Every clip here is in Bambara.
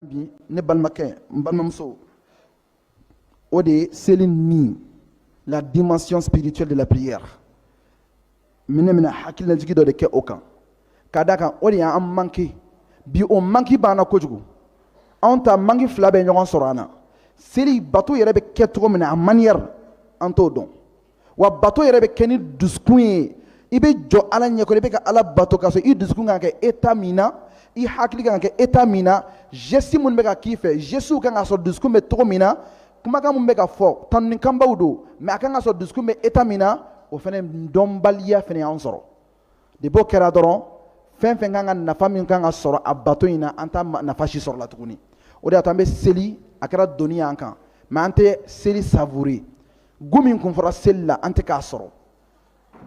bi ne balimakɛ n balimamuso o de ye seli ni la dimension spirituelle de la prière n bɛna n bɛna hakililajigi dɔ de kɛ o kan ka d'a kan o de y'an manqué bi o manki b'an na kojugu anw ta manki fila bɛ ɲɔgɔn sɔrɔ an na seli bato yɛrɛ bɛ kɛ cogo min na a manière an t'o dɔn wa bato yɛrɛ bɛ kɛ ni dusukun ye i bɛ jɔ ala ɲɛkɔrɔ i bɛ ka ala bato k'a sɔrɔ i dusukun kan ka kɛ état min na i hakili kan ka kɛ état min na geste minnu bɛ ka k'i fɛ gestew kan ka sɔrɔ dusukun bɛ cogo min na kumakan min bɛ ka fɔ tanunikanbaw don mais a kan ka sɔrɔ dusukun bɛ état min na o fana dɔnbaliya fana y'an sɔrɔ de n'o kɛra dɔrɔn fɛn fɛn kan ka nafa min kan ka sɔrɔ a bato in na an t'a nafa si sɔrɔ a la tuguni o de y'a to an bɛ seli a kɛra doni y'an kan mais an tɛ seli savourer goût min kun fɔra seli la an tɛ k'a sɔrɔ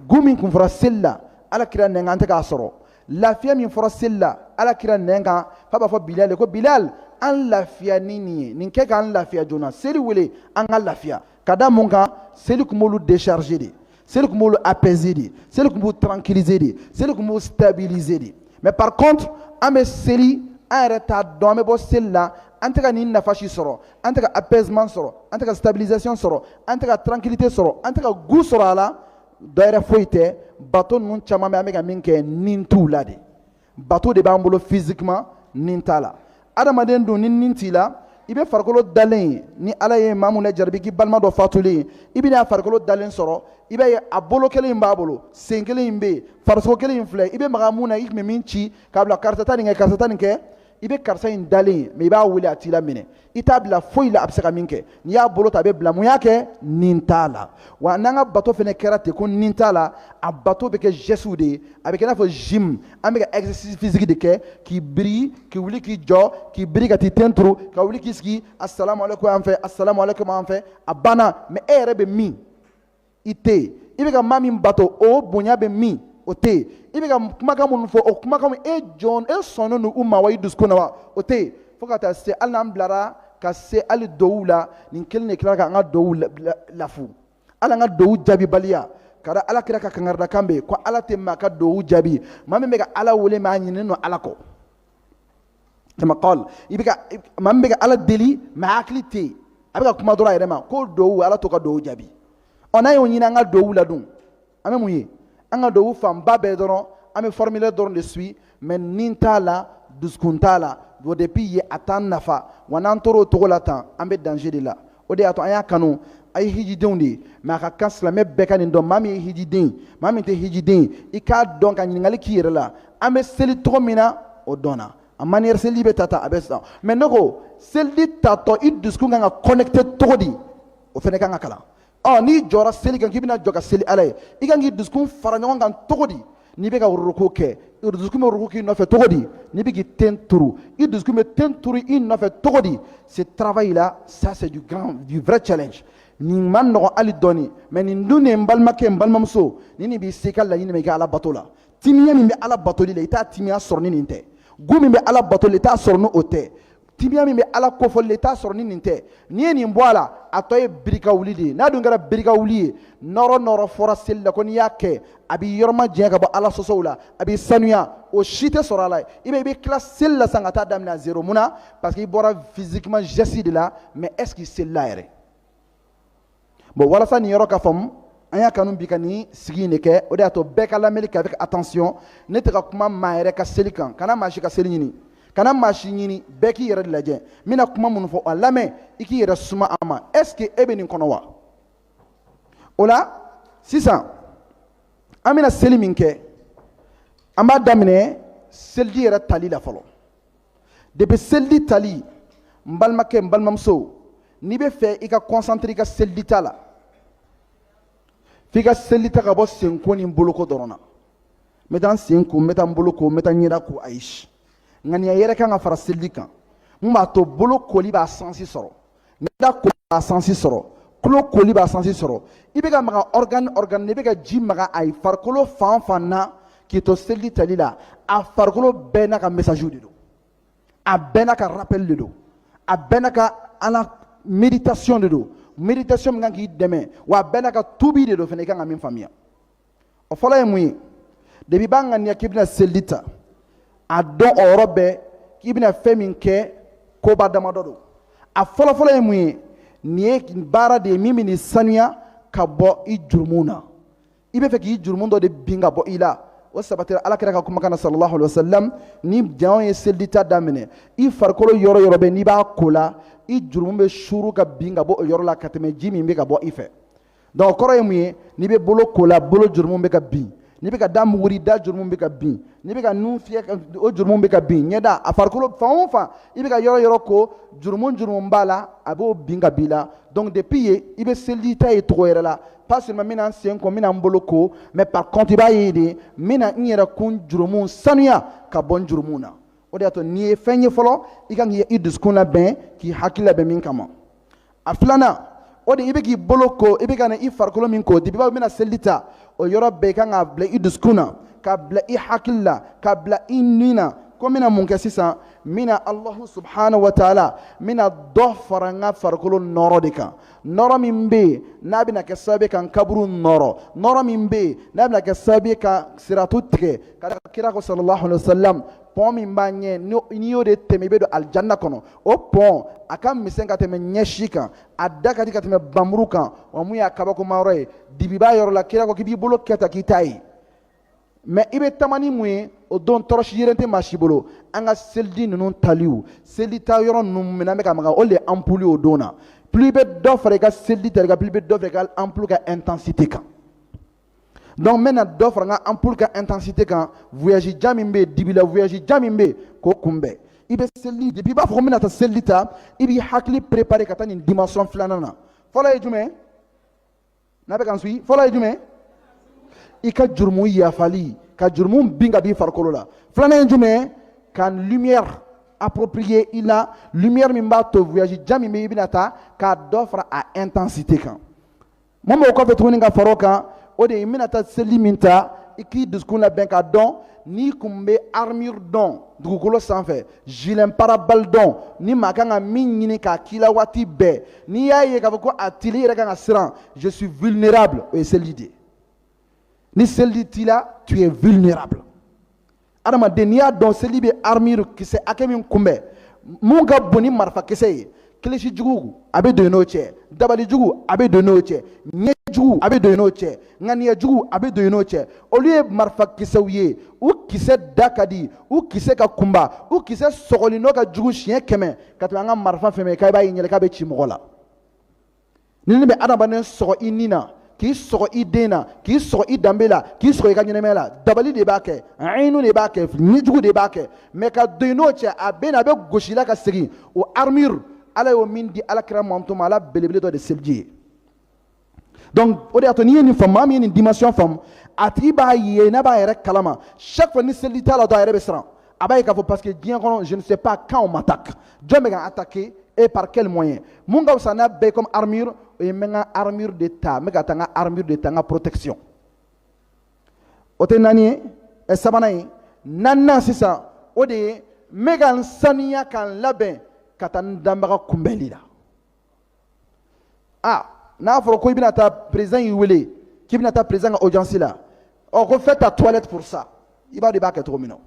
goût min kun fɔra seli la ala kira nɛn kan an tɛ k'a sɔrɔ lafiya min fɔra seli la ala kira nɛn kan f'a b'a fɔ bilal ye ko bilal an lafiya ni nin ye nin kɛ k'an lafiya joona seli wele an ka lafiya ka da mun kan seli tun b'olu décharger de seli tun b'olu apaiser de seli tun b'u tranquilliser de seli tun b'u stabiliser de mais par contre an bɛ seli an yɛrɛ t'a dɔn an bɛ bɔ seli la an tɛ ka nin nafa si sɔrɔ an tɛ ka apaisement sɔrɔ an tɛ ka stabilisation sɔrɔ an tɛ ka tranquillité sɔrɔ an tɛ ka goût sɔrɔ a la dɔ wɛrɛ foyi tɛ bato ninnu caman bɛ an bɛ ka min kɛ ni t'u la de bato de b'an bolo physiquement ni t'a la adamaden dun ni ni t'i la i bɛ farikolo dalen ye ni ala ye maa min lajarabi k'i balima dɔ fatulen ye i bɛ n'a farikolo dalen sɔrɔ i b'a ye a bolo kelen in b'a bolo sen kelen in bɛ yen farisogo kelen in filɛ i bɛ maga min na i tun bɛ min ci k'a bila karisa taa nin kɛ karisa taa nin kɛ i bɛ karisa in dalen ye mais i b'a wele a t'i laminɛ i t'a bila foyi la a bɛ se ka min kɛ n'i y'a bolo ta a bɛ bila mun y'a kɛ ni t'a la wa n'an ka bato fana kɛra ten ko ni t'a la a bato bɛ kɛ gestew de ye a bɛ kɛ i n'a fɔ gym an bɛ ka exercice physique de kɛ k'i biri k'i wuli k'i jɔ k'i biri ka t'i ten turu ka wuli k'i sigi asalamualeykum yan fɛ asalamualeykum yan fɛ a banna mais e yɛrɛ bɛ min i tɛ yen i bɛ ka maa min bato o bonya bɛ min o tɛ yen i bɛ ka kumakan minnu fɔ o kumakan e jɔn e sɔnnen don u ma wa i dusukun na wa o tɛ yen fo ka taa se hali n'an bilara ka se hali duwawu la nin kelen de tila k'an ka duwawu lafu hali an ka duwawu jaabibaliya ka da ala kira ka kangaridakan bɛ yen ko ala tɛ maa ka duwawu jaabi maa min bɛ ka ala wele mais a ɲinɛnen don ala kɔ kama kal i bɛ ka maa min bɛ ka ala deli mais a hakili tɛ yen a bɛ ka kuma dɔrɔn a yɛrɛ ma ko duwawu ala t'o ka duwawu jaabi ɔ n'an y'o ɲini an ka duwawu la dun an bɛ mun ye an ka duwawu fanba bɛɛ dɔrɔn an bɛ formule dɔrɔn de suivre mais ni t'a la dusukun t'a la o depuis ye a t'an nafa wa n'an tor'o cogo la tan an bɛ danger de la o de y'a to an y'a kanu a ye hijidenw de ye mɛ a ka kan silamɛ bɛɛ ka nin dɔn maa min ye hijiden maa min tɛ hijiden i k'a dɔn ka ɲininkali k'i yɛrɛ la an bɛ seli cogo min na o dɔnna a maniyɛri seliji bɛ ta ta a bɛ sisan mɛ ne ko seliji tatɔ i dusukun kan ka kɔnɛkite cogo di o fana kan ka kalan ɔ n'i jɔra seli kan k'i bɛna jɔ ka seli ala ye i kan k'i dusukun fara ɲɔgɔn kan cogo di n'i bɛ ka rukuu kɛ dusukun bɛ rukuu k'i nɔfɛ cogo di n'i bɛ k'i ten turu i dusukun bɛ ten turu i nɔfɛ cogo di ce travail là ça c'est du vrai challenge nin man nɔgɔ hali dɔɔnini mɛ nin dun n balimakɛ n balimamuso ni nin b'i se ka laɲini min kɛ ala bato la timiya min bɛ ala batoli la i t'a timiya sɔrɔ ni nin tɛ goût min bɛ ala batoli la i t'a sɔrɔ n' o tɛ timiya min bɛ ala kofɔli i t'a sɔrɔ ni nin tɛ n'i ye nin bɔ a la a tɔ ye biri ka wuli de ye n'a dun kɛra biri ka wuli ye nɔɔrɔ nɔɔrɔ fɔra seli la ko n'i y'a kɛ a b'i yɔrɔma jɛn ka bɔ ala sɔsɔw la a b'i sanuya o si tɛ sɔrɔ a la i bɛ i bɛ tila seli la san ka taa daminɛ à zero mun na parce que i bɔra physiquement geste de la mais est ce que i selila yɛrɛ bon walasa nin yɔrɔ ka faamu an y'a kanu bi ka nin sigi in de kɛ o de y'a to bɛɛ ka lamɛnni kɛ avec attention ne tɛ ka kuma maa yɛrɛ ka seli kan kana maa si ka seli ɲini kana maa si ɲini bɛɛ k'i yɛrɛ de lajɛ n bɛna kuma minnu fɔ a lamɛn i k'i yɛrɛ suma a ma est ce que e bɛ nin kɔnɔ wa o la sisan an bɛna seli min kɛ an b'a daminɛ seliji yɛrɛ tali la fɔlɔ depi seliji tali n balimakɛ n balimamuso n'i bɛ fɛ i ka kɔnsantire i ka seliji ta la f'i ka seliji ta ka bɔ senko ni boloko dɔrɔn na n bɛ taa n sen ko n bɛ taa n bolo ko n bɛ taa n ɲɛda ko ayi ŋaniya yɛrɛ kan ka fara seliji kan mun b'a to bolo koli b'a sansi sɔrɔ da koli b'a sansi sɔrɔ tulo koli b'a sansi sɔrɔ i bɛ ka maga ɔrigani ɔrigani i bɛ ka ji maga i farikolo fan fan na k'i to seliji tali la a farikolo bɛɛ n'a ka mɛsaziw de don a bɛɛ n'a ka rapɛli de don a bɛɛ n'a ka ala meditation de don meditation min kan k'i dɛmɛ wa a bɛɛ n'a ka tubi de don fana i kan ka min faamuya o fɔlɔ ye mun ye depi i b'a ŋaniya k'i bɛna seliji ta a dɔn o yɔrɔ bɛɛ k'i bɛna fɛn min kɛ koba damadɔ don a fɔlɔfɔlɔ ye mun ye nin ye baara de ye min bɛn'i sanuya ka bɔ i jurumu na i bɛ fɛ k'i jurumu dɔ de bin ka bɔ i la o sabatira ala kira ka kumakan na sallallahu alaihi wasallam ni jɔn ye seliji ta daminɛ i farikolo yɔrɔ yɔrɔ bɛ n'i b'a ko la i jurumu bɛ suuru ka bin ka bɔ o yɔrɔ la ka tɛmɛ ji min bɛ ka bɔ i fɛ dɔnku o kɔrɔ ye mun ye n'i bɛ bolo ko la bolo jurumu bɛ ka bin n'i bɛ ka da muguri da jurumu bɛ ka bin n'i bɛ ka nun fiyɛ o jurumu bɛ ka bin ɲɛda a farikolo fan o fan i bɛ ka yɔrɔ yɔrɔ ko jurumu jurumu b'a la a b'o bin ka b'i la donc depuis yen i bɛ seliji ta ye cogo yɛrɛ la pas seulement n bɛna n sen ko n bɛna n bolo ko mais par contre i b'a ye de n bɛna n yɛrɛkun jurumu sanuya ka bɔ n jurumu na o de y'a to n'i ye fɛn ye fɔlɔ i ka kan k'i dusukun labɛn k'i hakili labɛn min kama a filanan o de i bɛ k'i bolo ko i bɛ ka na i farikolo min ko depuis i b'a fɔ n bɛna seliji ta o yɔrɔ bɛɛ i kan k'a bila i dusukun na k'a bila i hakili la k'a bila i ni na ko n bɛna mun kɛ sisan n bɛna alahu subahana wa taala n bɛna dɔ fara n ka farikolo nɔrɔ de kan nɔrɔ min bɛ yen n'a bɛna kɛ sababu ye ka n kaburu nɔrɔ nɔrɔ min bɛ yen n'a bɛna kɛ sababu ye ka siratu tigɛ ka kira ko sallallahu alaihi wa sallam pɔn min b'a ɲɛ n'i y'o de tɛmɛ i bɛ don alijanna kɔnɔ o pɔn a ka misɛn ka tɛmɛ ɲɛsi kan a da ka di ka tɛmɛ npanmuru kan wa mun y'a kabakoma yɔrɔ ye dibi b'a yɔrɔ la kira ko k'i b'i bolo kɛ tan k'i t'a ye mɛ i bɛ taama ni mun ye o don tɔrɔsi yɛrɛ tɛ maa si bolo an ka seliji ninnu taliw seliji ta yɔrɔ ninnu minnu an bɛ ka maga o de ye anpuli o don na plus i bɛ dɔ fara i ka seliji tali kan plus i bɛ dɔ fara i ka anpuli ka intensité kan donc n bɛna dɔ fara n ka ampoule ka intensité kan voyage jan min bɛ yen dibi la voyage jan min bɛ yen k'o kunbɛn i bɛ seliji depuis i b'a fɔ ko n bɛna taa seliji ta i b'i hakili préparer ka taa nin dimension filanan na fɔlɔ ye jumɛn n'aw bɛ ka n suivre fɔlɔ ye jumɛn i ka jurumu yafali ka jurumu bin ka b'i farikolo la filanan ye jumɛn ka lumière approprier i la lumière min b'a to voyage jan min bɛ i bɛna taa ka dɔ fara a intensité kan mun b'o kɔfɛ tuguni ka fara o kan o de ye i bɛna taa seliji min ta i k'i dusukun labɛn k'a dɔn n'i kun bɛ armure dɔn dugukolo sanfɛ gilet pare-balles dɔn ni maa kan ka min ɲini k'a k'i la waati bɛɛ n'i y'a ye k'a fɔ ko a t'i la i yɛrɛ kan ka siran je suis vulnérable o ye seliji de ye ni seliji t'i la tu es vulnérable adamaden n'i y'a dɔn seliji bɛ armure kisɛ hakɛ min kunbɛn mun ka bon ni marifakisɛ ye kilisi jugu a bɛ don i n'o cɛ dabali jugu a bɛ don i n'o cɛ ɲɛ jugu a bɛ don i n'o cɛ ŋaniya jugu a bɛ don i n'o cɛ olu ye marifakisɛw ye u kisɛ da ka di u kisɛ ka kunba u kisɛ sɔgɔli nɔ ka jugu siɲɛ kɛmɛ ka tɛmɛ an ka marifa fɛn fɛn kan i b'a ye ɲɛ la k'a bɛ ci mɔgɔ la ninnu bɛ adamaden sɔgɔ i ni na k'i sɔgɔ i den na k'i sɔgɔ i danbe la k'i sɔgɔ i ka ɲɛnɛmaya la dabali de b'a kɛ ayinu de b'a kɛ ɲɛjugu de b'a kɛ mɛ ka don i n'o cɛ a bɛ na a bɛ gosi a la ka segin o armure ala ye min di alakira mantɔn ma a la belebele dɔ de seliji ye donc o de y'a to n'i ye nin faamu maa min ye nin dimension faamu a tigi b'a ye n'a b'a yɛrɛ kalama chaque fois ni seliji t'a la dɔrɔn a yɛrɛ bɛ siran a b'a ye k'a fɔ parce que diɲɛ kɔnɔ je ne sais pas quand on m'attaque jɔn bɛ ka n attaquer et par quel moyen mun ka fisa n'a bɛɛ ye comme armure o ye n bɛ n ka armure de ta n bɛ ka taa n ka armure de ta n ka protection o de naani ye ɛ sabanan ye naaninan sisan o de ye n bɛ ka n saniya ka n labɛn ka taa n danbaga kunbɛnli la aa n'a fɔra ko i bɛna taa président y'i wele k'i bɛna taa président ka audience la ɔ ko fais ta toilette pour ça i b'a dɔn i b'a kɛ cogo min na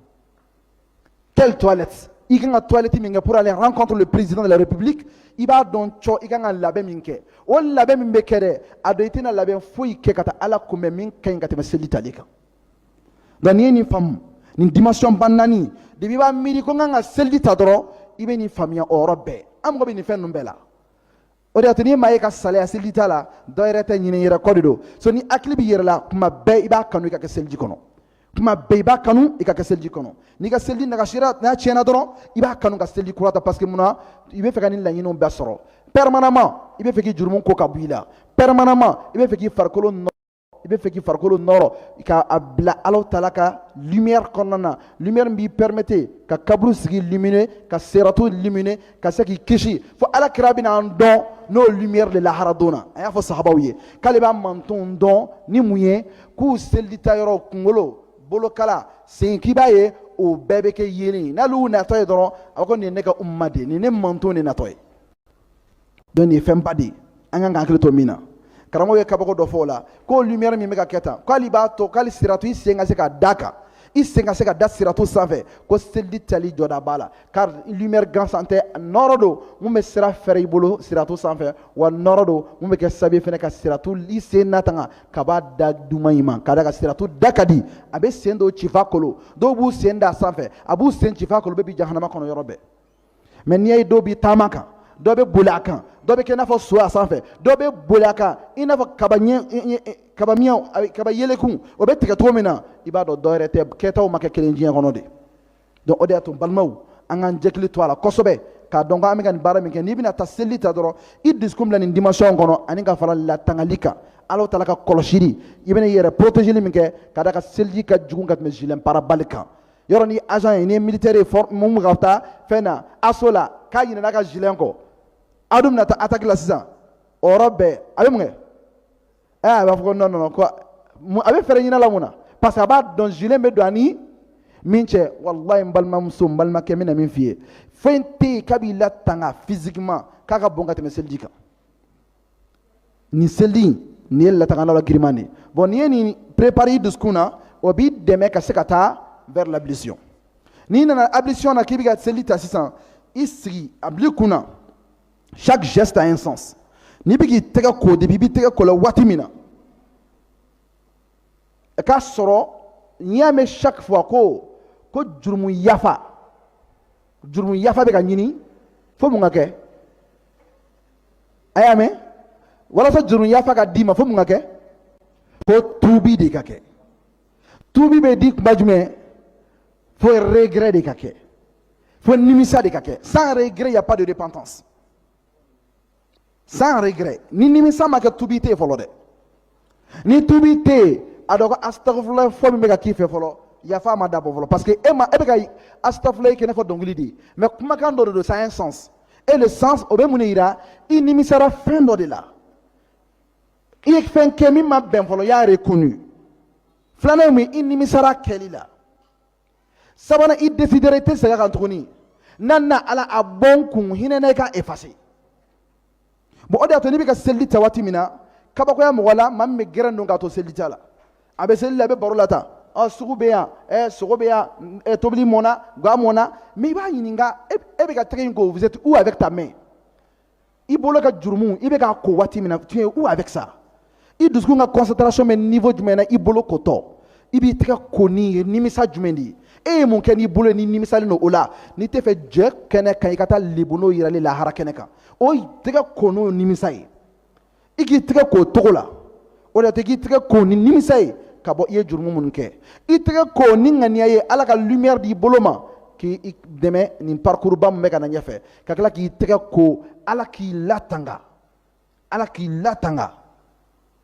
quelle toilette i kan ka toilette min kɛ pour aller rencontrer le président de la république i b'a dɔn cɔ i kan ka labɛn min kɛ o labɛn min bɛ kɛ dɛ a dɔn i tɛna labɛn foyi kɛ ka taa ala kunbɛn min ka ɲi ka tɛmɛ seli tali kan nka n'i ye nin faamu nin dimension ba naani depuis i b'a miiri ko n kan ka seliji ta dɔrɔn i bɛ nin faamuya o yɔrɔ bɛɛ an mago bɛ nin fɛn ninnu bɛɛ la o de y'a to n'i maa ye ka salaya seliji ta la dɔ yɛrɛ tɛ ɲinɛ i yɛrɛ kɔ de don so n'i hakili b'i yɛrɛ la tuma bɛɛ i b'a kanu i ka kɛ seliji kɔnɔ tuma bɛɛ i b'a kanu i ka kɛ seliji kɔnɔ n'i ka seliji nagasira n'a tiɲɛna dɔrɔn i b'a kanu ka seliji kura ta parce que mun na i b'a fɛ ka nin laɲiniw bɛɛ sɔrɔ permanemment i b'a fɛ k'i jurumu ko ka bɔ i la permanemment i b'a fɛ k'i farikolo i b'a fɛ k'i farikolo nɔrɔ ka a bila alahu taala ka lumière kɔnɔna na lumière min b'i permettre ka kaburu sigi illuminer ka siratu illuminer ka se k'i kisi fo ala kira bɛna an dɔn n'o lumière de lahara don na a y'a fɔ sahabaw ye k'ale b'a mantonw dɔn ni mun ye k'u seliji ta yɔrɔ kunkolo bolokala sen k'i b'a ye o bɛɛ bɛ kɛ yeelen n'ale y'u natɔ ye dɔrɔn a ko nin ye ne ka umma de ye nin ye ne manton de natɔ ye donc nin ye fɛn ba de ye an kan ka hakili to min na karamɔgɔ ye kabako dɔ fɔ o la k'o lumière min bɛ ka kɛ tan k'ale b'a to k'ale siratu i sen ka se ka da kan i sen ka se ka da siratu sanfɛ ko seliji tali jɔda b'a la car lumière gansan tɛ nɔrɔ don min bɛ sira fɛrɛ i bolo siratu sanfɛ wa nɔrɔ don min bɛ kɛ sababu fana ka siratu i sen natanga ka bɔ a da duman in ma ka d'a kan siratu da ka di a bɛ sen dɔw ci f'a kolo dɔw b'u sen da sanfɛ a b'u sen ci f'a kolo bɛ bin jahanama kɔnɔ yɔrɔ bɛɛ mais n'i y'a ye dɔ b'i taama a kan dɔ bɛ boli a kan dɔ bɛ kɛ i n'a fɔ so a sanfɛ dɔ bɛ boli a kan i n'a fɔ kaba ɲɛ kaba miɲɛw kaba yeleku o bɛ tigɛ cogo min na i b'a dɔn dɔwɛrɛ tɛ kɛtaw ma kɛ kelen diɲɛ kɔnɔ de donc o de y'a to balimaw an k'an hakili to a la kosɛbɛ k'a dɔn ko an bɛ ka nin baara min kɛ n'i bɛna taa seli ta dɔrɔn i dusukun bila nin dimension kɔnɔ ani ka fara latangali kan ala taala ka kɔlɔsili i bɛna i yɛrɛ protégeli min kɛ ka d'a kan seliji ka jugu ka tɛmɛ gilet pare-balles kan yɔrɔ n'i agent ye n'i ye militaire ye min bɛ ka taa fɛn na assaut la k'a ɲinɛna a ka gilet kɔ a dun bɛna taa attaque la sisan o yɔrɔ bɛɛ a bɛ mun kɛ ɛ a b'a fɔ ko non non ko a bɛ fɛɛrɛ ɲin'a la mun na parce que a b'a dɔn gilet bɛ don a ni min cɛ walayi n balimamuso n balimakɛ n bɛna min f'i ye fɛn tɛ yen k'a b'i latanga physiquement k'a ka bon ka tɛmɛ seliji kan. nin seli in nin ye latangalilan giriman de ye bon n'i ye nin préparer i dusukun na o b'i dɛmɛ ka se ka taa vers l'ablution n'i nana ablution na k'i bɛ ka seli ta sisan i sigi a bili kun na chaque geste a un sens n'i bɛ k'i tɛgɛ ko depuis i b'i tɛgɛ ko la waati min na i k'a sɔrɔ n'i y'a mɛn chaque fois ko ko jurumu yafa jurumu yafa bɛ ka ɲini fo mun ka kɛ a y'a mɛn walasa juru yafa ka d'i ma fo mun ka kɛ fo tuubi de ka kɛ tuubi bɛ di kuma jumɛn fo regret de ka kɛ fo nimisa de ka kɛ sans regret y a pas de repentance sans regret ni nimisa ma kɛ tuubi tɛ yen fɔlɔ dɛ ni tuubi tɛ yen a dɔn ko asitafurulayi fɔ min bɛ ka k'i fɛ fɔlɔ yafa ma dabɔ fɔlɔ parce que e ma e bɛ ka asitafurulayi kɛ i n'a fɔ dɔnkili de ye mais kumakan dɔ de don ça a un sens et le sens o bɛ mun de yira i nimisara fɛn dɔ de la i ye fɛn kɛ min ma bɛn fɔlɔ y'a reconnu filanan ye mun ye i nimisara kɛli la sabanan i desidera i tɛ segin a kan tuguni naaninan ala a bɔn kun hinɛ na i ka efase bon o de y'a to n'i bɛ ka seliji ta waati min na kabakoya mɔgɔ la maa min bɛ gɛrɛn don k'a to seliji ta la a bɛ seliji la a bɛ baro la tan ɔ sugu bɛ yan ɛ sogo bɛ yan ɛ tobili mɔna ga mɔna mais i b'a ɲininka e bɛ ka tɛgɛ in ko vous êtes où avec ta main i bolo ka jurumu i bɛ k'a ko waati min na tu es où avec ça i dusukun ka concentration bɛ niveau jumɛn na i bolo kotɔ i b'i tɛgɛ ko ni ye nimisa jumɛn de ye e ye mun kɛ n'i bolo ye n'i nimisalen don o la n'i t'a fɛ jɛ kɛnɛ kan i ka taa lebu n'o yirala lahara kɛnɛ kan o tɛgɛ ko n'o nimisa ye i k'i tɛgɛ k'o cogo la o de y'a to k'i tɛgɛ ko ni nimisa ye ka bɔ i ye jurumu minnu kɛ i tɛgɛ ko ni ŋaniya ye ala ka lumière d'i bolo ma k'i dɛmɛ nin parcours ba min bɛ ka na ɲɛfɛ ka tila k'i tɛgɛ ko ala k'i latanga ala k'i latanga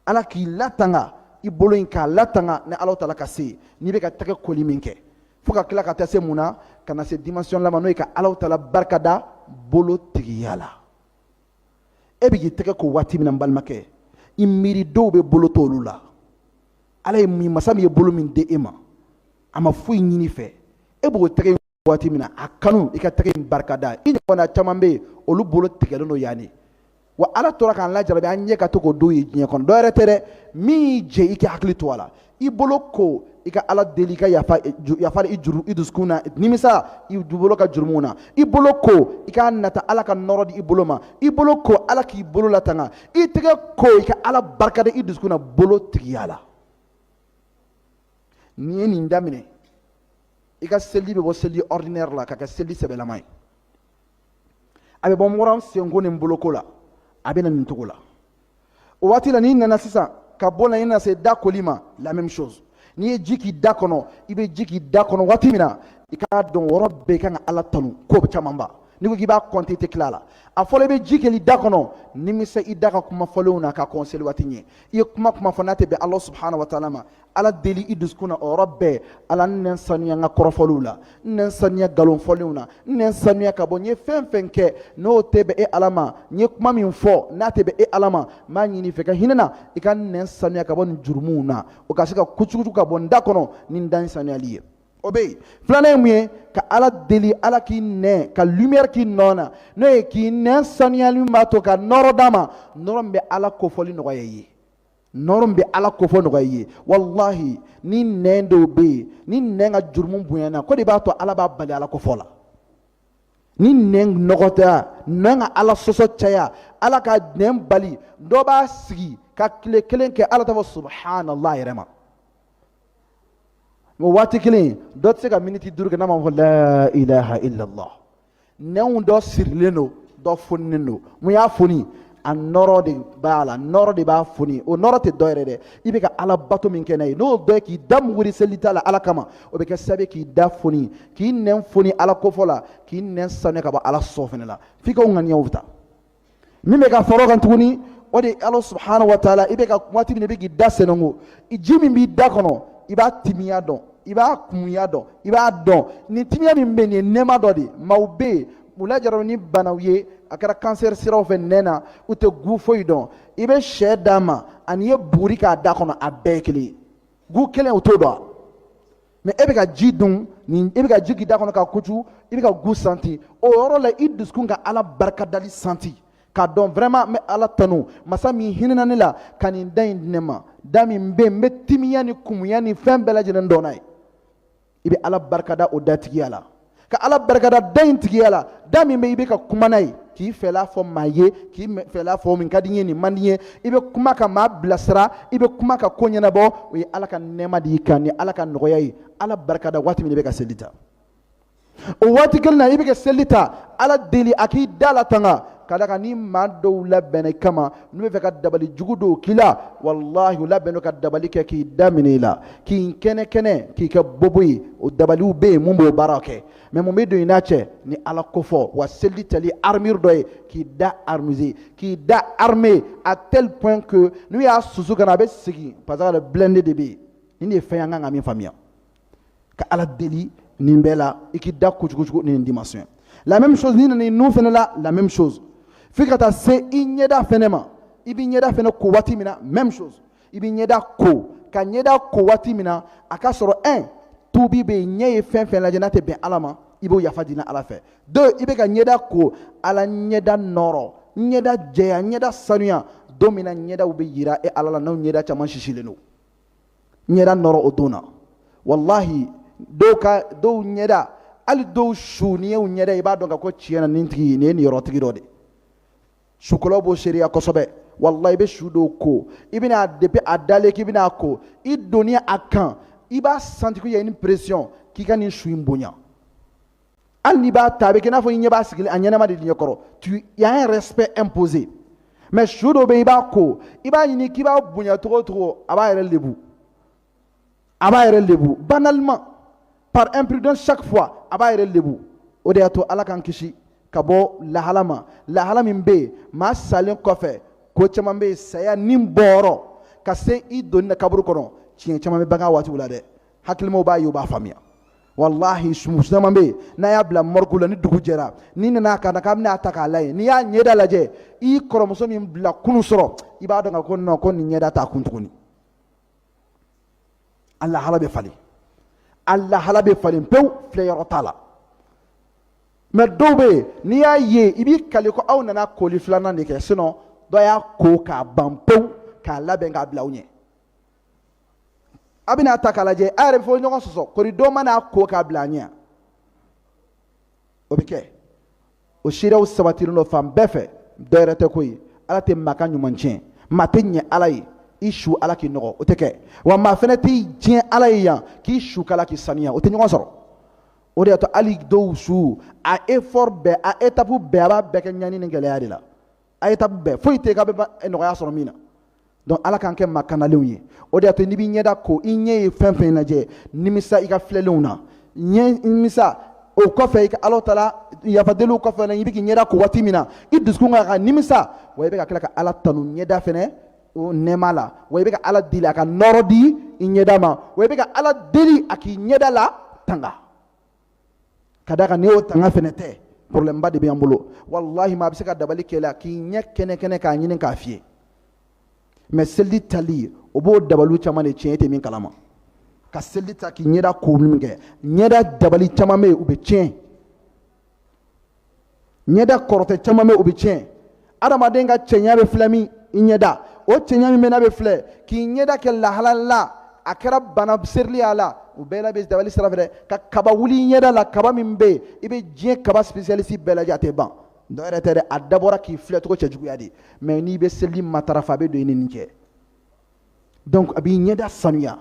ala k'i latanga i bolo in k'a latanga ni ala taala ka se n'i bɛ ka tɛgɛ koli min kɛ fo ka tila ka taa se mun na ka na se dimension laban ma n'o ye ka ala taala barikada bolo tigiya la e bɛ k'i tɛgɛ ko waati min na n balimakɛ i miiri dɔw bɛ bolo t'olu la ala ye min masa min ye bolo min di e ma a ma foyi ɲini i fɛ e b'o tɛgɛ waati min na a kanu i ka tɛgɛ in barikada i ɲɔgɔnna caman bɛ yen olu bolo tigɛlen don yaani wa ala tora k'an lajarabi an ɲɛ ka to ko dɔw ye diɲɛ kɔnɔ dɔ yɛrɛ tɛ dɛ min y'i jɛ i k'i hakili to a la i bolo ko i ka ala deli i ka yafa la i dusukun na nimisa i dubolo ka jurumu na i bolo ko i k'a nata ala ka nɔrɔ di i bolo ma i bolo ko ala k'i bolo latanga i tɛgɛ ko i ka ala barikada i dusukun na bolo tigiya la n'i ye nin daminɛ i ka seli bɛ bɔ seli ordinaire la ka kɛ seli sɛbɛlama ye a bɛ bɔ dɔrɔn senko ni boloko la a bɛ na nin cogo la o waati la n'i nana sisan ka bɔ na i na se da koli ma la même chose n'i ye ji k'i da kɔnɔ i bɛ ji k'i da kɔnɔ waati min na i k'a dɔn wɔrɔ bɛɛ kan ka ala tanu ko camanba n'i ko k'i b'a kɔnte tɛ tila a la a fɔlɔ i bɛ ji kɛli da kɔnɔ nimisa i da ka kuma fɔlenw na ka kɔn seli waati ɲɛ i ye kuma kuma fɔ n'a tɛ bɛn ala subahana wa taala ma ala deli i dusukun na o yɔrɔ bɛɛ ala n nɛn sanuya n ka kɔrɔfɔliw la n nɛn sanuya nkalon fɔlenw na n nɛn sanuya ka bɔ n ye fɛn fɛn kɛ n'o tɛ bɛn e ala ma n ye kuma min fɔ n'a tɛ bɛn e ala ma n b'a ɲini i fɛ ka hinɛ n na i ka n nɛn sanuya ka bɔ nin jurumuw na o ka se ka kucukucu ka bɔ n da kɔnɔ ni n da in sanuyali ye o bɛ yen filanan ye mun ye ka ala deli ala k'i nɛn ka lumière k'i nɛn na n'o ye k'i nɛn sanuyali min b'a to ka nɔrɔ d'a ma nɔrɔ min bɛ ala kofɔli nɔgɔya i ye nɔrɔ min bɛ ala kofɔ nɔgɔya i ye walahi ni nɛn dɔw bɛ yen ni nɛn ka jurumu bonyana ko de b'a to ala b'a bali ala kofɔ la ni nɛn nɔgɔtɔya nɛn ka ala sɔsɔ caya ala ka nɛn bali dɔ b'a sigi ka tile kelen kɛ hali a t'a fɔ subhanallah yɛrɛ ma o waati kelen dɔ tɛ se ka miniti duuru kɛ n'a ma fɔ la ilaha illallah nɛnw dɔ sirilen don dɔ foninen don mun y'a foni a nɔrɔ de b'a la nɔrɔ de b'a foni o nɔrɔ tɛ dɔ wɛrɛ dɛ i bɛ ka ala bato min kɛ n'a ye n'o dɔ ye k'i da muguri seli ta la ala kama o bɛ kɛ sababu k'i da foni k'i nɛn foni ala kofɔ la k'i nɛn sanuya ka bɔ ala sɔsɔ fɛnɛ la f'i ka ŋaniyaw ta min bɛ ka far'o kan tuguni o de ye ala subahana wa taala i bɛ ka waati min i bɛ k'i da sɛnɛnko ji min b'i da kɔnɔ i b'a timiya dɔn i b'a kumuya dɔn i b'a dɔn nin timiya min bɛ nin ye nɛɛma dɔ de maaw bɛ yen u lajarabira ni banaw ye a kɛra kansɛri siraw fɛ nɛn na u tɛ goût foyi dɔn i bɛ sɛ d'a ma ani i ye buguri k'a da kɔnɔ a bɛɛ kelen ye goût kelen u t'o dɔn mais e bɛ ka ji dun n'e bɛ ka ji k'i da kɔnɔ ka kucu i bɛ ka goût senti o yɔrɔ la i dusukun ka ala barikadali senti k'a dɔn vraiment n bɛ ala tanu masa min hinɛna ne la ka nin da in di ne ma da min bɛ n bɛ timiya ni kumuya ni fɛn bɛɛ lajɛlen dɔn n'a ye i bɛ ala barikada o datigiya la ka ala barikada da in tigiya la da min bɛ i bɛ ka kuma n'a ye k'i fɛla fɔ maa ye k'i fɛla fɔ min ka di n ye nin man di n ye i bɛ kuma ka maa bilasira i bɛ kuma ka ko ɲɛnabɔ o ye ala ka nɛɛma de i kan ni ala ka nɔgɔya ye ala barikada waati min i bɛ ka seli ta o waati kelen na i bɛ ka seli ta ala deli a k'i da latanga ka d'a kan ni maa dɔw labɛnna i kama n'u b'a fɛ ka dabali jugu dɔw k'i la walahi u labɛnnen don ka dabali kɛ k'i da minɛ i la k'i kɛnɛ kɛnɛ k'i kɛ bobo ye o dabaliw bɛ yen mun b'o baara kɛ mais mun bɛ don i n'a cɛ ni ala kofɔ wa seli tali armure dɔ ye k'i da armuse k'i da armé à tel point que n'u y'a susu ka na a bɛ segin parce que blindé de bɛ yen nin de ye fɛn ye an ka kan ka min faamuya ka ala deli nin bɛɛ la i k'i da kucukucu ni nin dimension la même chose n'i nana i nun fɛnɛ la la même chose f'i ka taa se i ɲɛda fɛnɛ ma i b'i ɲɛda fɛnɛ ko waati min na même chose i b'i ɲɛda ko ka ɲɛda ko waati min na a ka sɔrɔ un tuubi bɛ yen ɲɛ ye fɛn fɛn lajɛ n'a tɛ bɛn ala ma i b'o yafa deli ala fɛ deux i bɛ ka ɲɛda ko ala n ɲɛda nɔrɔ n ɲɛda jɛya n ɲɛda sanuya don min na ɲɛdaw bɛ yira e ala la n'o ɲɛda caman sisilen don n ɲɛda nɔɔrɔ o don na walahi dɔw ka dɔw ɲɛda hali dɔw su n'i y'u ɲɛda i b'a dɔn ka ko tiɲɛ na nin tigi nin ye niyɔrɔtigi dɔ de sukolaw b'o seereya kosɛbɛ walahi i bɛ su dɔw ko i bɛna depuis a dalen k'i bɛna a ko i donni a kan i b'a senti que y a une pression k'i ka nin su in bonya hali n'i b'a ta a bɛ kɛ i n'a fɔ i ɲɛ b'a sigilen a ɲɛnama de ɲɛkɔrɔ y a un respect imposé mais su dɔ bɛ yen i b'a ko i b'a ɲini k'i b'a bonya cogo o cogo a b'a yɛrɛ lebu a b'a yɛrɛ lebu banalement par imprudence chaque fois a b'a yɛrɛ lebu o de y'a to ala k'an kisi ka bɔ lahala ma lahala min bɛ yen maa salen kɔfɛ ko caman bɛ yen saya ni bɔyɔrɔ ka se i donni na kaburu kɔnɔ tiɲɛ caman bɛ bange waatiw la dɛ hakilimaw b'a ye u b'a faamuya walahi su caman bɛ yen n'a y'a bila morgue la ni dugu jɛra n'i nana a ka na k'a bɛna a ta k'a lajɛ n'i y'a ɲɛda lajɛ i kɔrɔmuso min bila kunun su rɔ i b'a dɔn ka ko non ko nin ɲɛda t'a kun tuguni a lahala bɛ falen a lahala bɛ falen pewu filɛ yɔrɔ t'a la mais dɔw bɛ yen n'i y'a ye i b'i kali ko aw nana koli filanan de kɛ sinon dɔ y'a ko k'a ban pewu k'a labɛn k'a bila aw ɲɛ a bɛna a ta k'a lajɛ a yɛrɛ bɛ fɔ ɲɔgɔn sɔsɔ kori dɔ ma n'a ko k'a bila a ɲɛ o bɛ kɛ o seereyaw sabatilen don fan bɛɛ fɛ dɔ wɛrɛ tɛ koyi ala tɛ maa ka ɲuman tiɲɛ maa tɛ ɲɛ ala ye i su ala k'i nɔgɔ o tɛ kɛ wa maa fɛnɛ t'i tiɲɛ ala ye yan k'i su k'ala k'i saniya o tɛ ɲɔgɔn sɔrɔ o de y'a to hali dɔw su a effort bɛɛ a étape bɛɛ a b'a bɛɛ kɛ ɲani ni gɛlɛya de la a étape bɛɛ foyi tɛ k'a bɛ eh, nɔgɔya sɔrɔ min na donc ala k'an kɛ maa kanalenw ye o de y'a to n'i b'i ɲɛda ko i ɲɛ ye fɛn o fɛn lajɛ nimisa i ka filɛlenw na ɲɛ nimisa o kɔfɛ i ka ala taala yafa deli o kɔfɛ i bɛ k'i ɲɛda ko waati min na i dusukun kan ka nimisa wa i bɛ ka tila ka ala tanu ɲɛda fɛnɛ o nɛɛma la wa i bɛ ka ala deli a ka nɔɔrɔ di i ɲɛda ma wa i bɛ ka ala deli a k'i ɲɛda latanga ka d'a kan ni o tanga fɛnɛ tɛ problème ba de bɛ an bolo walahi maa bɛ se ka dabali k'i la k'i ɲɛ kɛnɛ kɛnɛ k'a ɲini k'a fiyɛ mais seliji tali o b'o dabaliw caman de tiɲɛ e tɛ min kalama ka seliji ta k'i ɲɛda ko min kɛ ɲɛda dabali caman bɛ yen u bɛ tiɲɛ ɲɛda kɔrɔtɛ caman bɛ u bɛ tiɲɛ adamaden ka cɛɲa bɛ filɛ min i ɲɛda o cɛɲa min bɛ n'a bɛ filɛ k'i ɲɛda kɛ lahala la a kɛra bana serili y'a la u bɛɛ la bɛ dabali sira fɛ dɛ ka kaba wuli i ɲɛda la kaba min bɛ yen i bɛ diɲɛ kaba spécialiste bɛɛ lajɛ a tɛ ban dɔ wɛrɛ tɛ dɛ a dabɔra k'i filɛ cogo cɛjuguya de mais n'i bɛ seliji matarafa a bɛ don i ni nin cɛ donc a b'i ɲɛda sanuya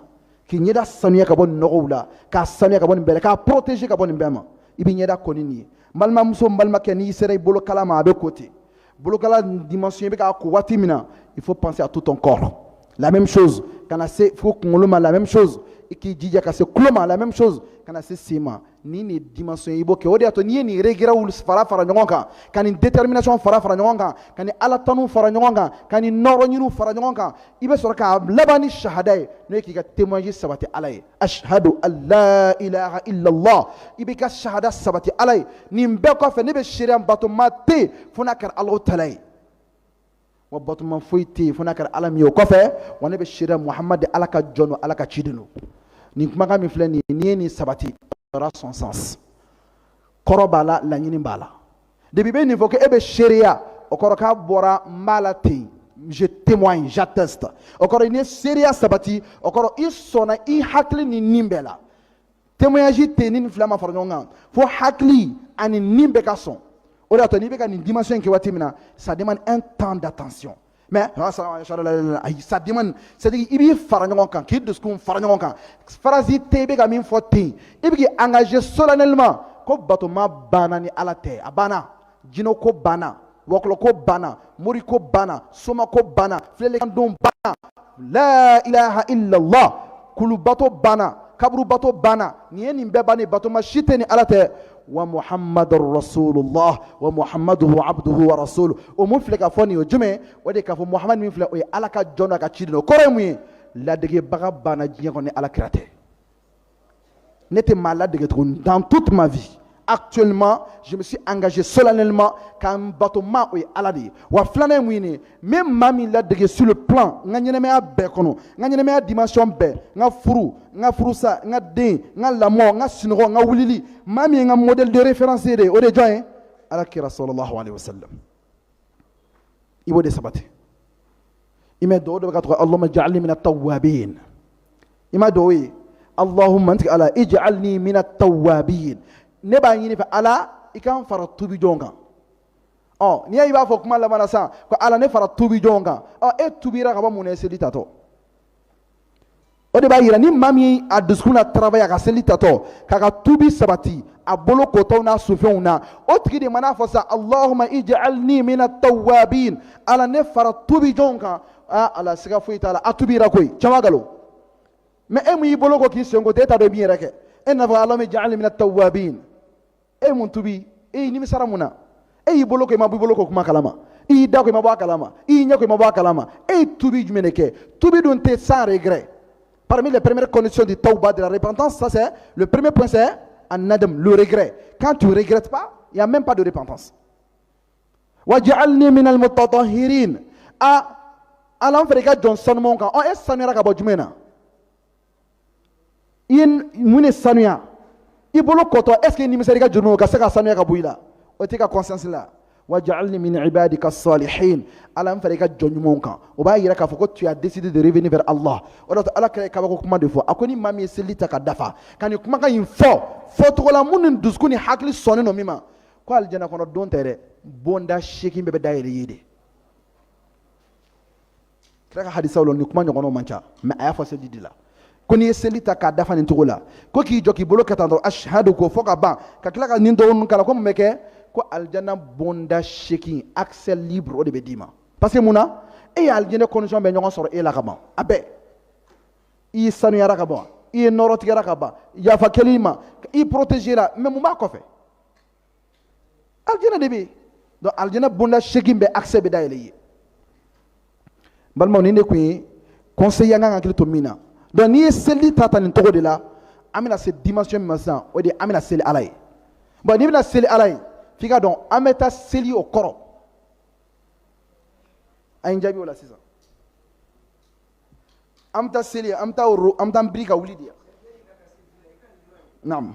k'i ɲɛda sanuya ka bɔ nin nɔgɔw la k'a sanuya ka bɔ nin bɛɛ la k'a protéger ka bɔ nin bɛɛ ma i b'i ɲɛda ko ni nin ye n balimamuso n balimakɛ n'i sera i bolokala ma a bɛ ko ten bolokala dimension i bɛ k'a ko waati min na il faut penser à tout ton corps la même chose ka na se fo kunkolo ma la même chose i k'i jija ka se tulo ma la même chose ka na se sen ma ni nin dimension i b'o kɛ o de y'a to n'i ye nin regretw fara fara ɲɔgɔn kan ka nin détermination fara fara ɲɔgɔn kan ka nin ala tanu fara ɲɔgɔn kan ka nin nɔɔrɔ ɲiniw fara ɲɔgɔn kan i bɛ sɔrɔ k'a laban ni sahada ye n'o ye k'i ka témoignage sabati ala ye ashhadu an la ilaha illallah i b'i ka sahada sabati ala ye nin bɛɛ kɔfɛ ne bɛ seereya batoma tɛ yen fo n'a kɛra alahu taala ye wa batoma foyi tɛ yen fo n'a kɛra ala min ye o kɔfɛ wa ne bɛ seereya muhamadu de ala ka jɔn don ala ka ciden don nin kumakan min filɛ nin ye n'i ye nin sabati sɔrɔ son sens kɔrɔ b'a la laɲini b'a la depuis i bɛ nin fɔ ko e bɛ seereya o kɔrɔ k'a bɔra n b'a la ten je témoigne j'atteste o kɔrɔ n'i ye seereya sabati o kɔrɔ i sɔnna i hakili ni nin bɛɛ la témoignage tɛ ni nin fila ma fara ɲɔgɔn kan fo hakili ani ni bɛɛ ka sɔn o de y'a to n'i bɛ ka nin dimension in kɛ waati min na ça demande un temps d'attention mais ayi ça demande c'est à dire i b'i fara ɲɔgɔn kan k'i dusukun fara ɲɔgɔn kan farasi tɛ i bɛ ka min fɔ ten i bɛ k'i engager solennellement ko batoma banna ni ala tɛ a banna jinɛko banna wɔkulɔko banna moriko banna somako banna filɛlikandon banna la ilaha illallah kulubato banna kaburubato banna nin ye nin bɛɛ banni batoma si tɛ ni ala tɛ wa muhammadu rasulullah wa muhammadu abduhu wa rasulu o min filɛ ka fɔ nin ye jumɛn o de k'a fɔ muhammadu min filɛ o ye ala ka jɔn n'a ka ciden o kɔrɔ ye mun ye ladegebaga banna diɲɛ kɔnɔ ni ala kira tɛ ne tɛ maa ladege tuguni dans toute ma vie actuellement je me suis engagé solennellement ka n batoma o ye ala de ye wa filanan ye mun ye ne ye n bɛ maa min ladege sur le plan n ka ɲɛnɛmaya bɛɛ kɔnɔ n ka ɲɛnɛmaya dimension bɛɛ n ka furu n ka furusa n ka den n ka lamɔ n ka sunɔgɔ n ka wulili maa min ye n ka modèle de référence ye de o de ye jɔn ye ala kira sallallahu alaihi wa sallam i b'o de sabati i mɛ dɔw dɔ bɛ k'a ta allahumma ja'alni mina tawwabin i ma dɔw ye allahumma n tigi ala ij'alni mina tawwabin ne b'a ɲini i fɛ ala i k'an fara tubi jɔnw kan ɔ n'i y'a i b'a fɔ kuma laban na sisan ko ala ne fara tubi jɔnw kan ɔ e tubira ka bɔ mun na i seli tatɔ o de b'a jira ni maa min a dusukun na tarabaya a ka seli tatɔ k'a ka tubi sabati a bolo kotɔ n'a sufɛnw na o tigi de man'a fɔ sa allahuma ij'alni mina tawabin ala ne fara tubi jɔnw kan aa ala siga foyi t'a la a tubira koyi caman galo mais e min y'i bolo ko k'i sen ko ten e t'a dɔn i b'i yɛrɛ kɛ e n'a fɔ allahuma ij'alni mina tawabin e ye mun tubi e y'i nimisara mun na e y'i bolo ko i ma bɔ i bolo ko kuma kalama i y'i da ko i ma bɔ a kalama i y'i ɲɛ ko i ma bɔ a kalama e ye tubi jumɛn de kɛ tubi dun tɛ sans regret parmi les premières conditions du tawba de la repentance ça c'est le premier point c'est an-nadam le regret quand tu regrettes pas il n'y a même pas de repentance waj'alni min al-mutatahhirin ala n fara i ka jɔn sanumanw kan ɔ e sanuyara ka bɔ jumɛn na i ye mun de sanuya i bolo kɔtɔ est ce que nimisɛri ka jurumu ka se ka sanuya ka bɔ i la o t'i ka conscience la wa ja'alni min ibadika salihin ala n fara i ka jɔn ɲumanw kan o b'a yira k'a fɔ ko tu as décidé de revenir vers Allah o de la ala kira ye kabako kuma de fɔ a ko ni maa min ye seli ta k'a dafa ka nin kumakan in fɔ fɔcogola minnu ni dusukun ni hakili sɔnnen don min ma ko alijana kɔnɔ don tɛ dɛ bonda seegin bɛɛ bɛ dayɛlɛ i ye de kira ka hadisaw la nin kuma ɲɔgɔnnaw man ca mais a y'a fɔ seliji de la ko n'i ye seli ta k'a dafa nin cogo la ko k'i jɔ k'i bolo kɛ tan dɔrɔn ashadu k'o fɔ ka ban ka tila ka nin dɔgɔninw k'a la ko mun bɛ kɛ ko alijana bonda seegin accès libre o de bɛ d'i ma parce que mun na e ye alijana condition bɛɛ ɲɔgɔn sɔrɔ e la ka ban a bɛɛ i sanuyara ka ban i nɔɔrɔtigiyara ka ban yafa kɛl'i ma i protégera mais mun b'a kɔfɛ aljana de bɛ yen donc aljana bonda seegin bɛɛ accès bɛ dayɛlɛ i ye balimaw nin de kun ye conseil an kan k'an hakili to min na donc n'i ye seliji ta a ta nin cogo de la an bɛna se dimension min ma sisan o de ye an bɛna seli ala ye bon n'i bɛna seli ala ye f'i k'a dɔn an bɛ taa seli o kɔrɔ a' ye n jaabi o la sisan an bɛ taa seli an bɛ taa woro an bɛ taa an biri ka wuli de naam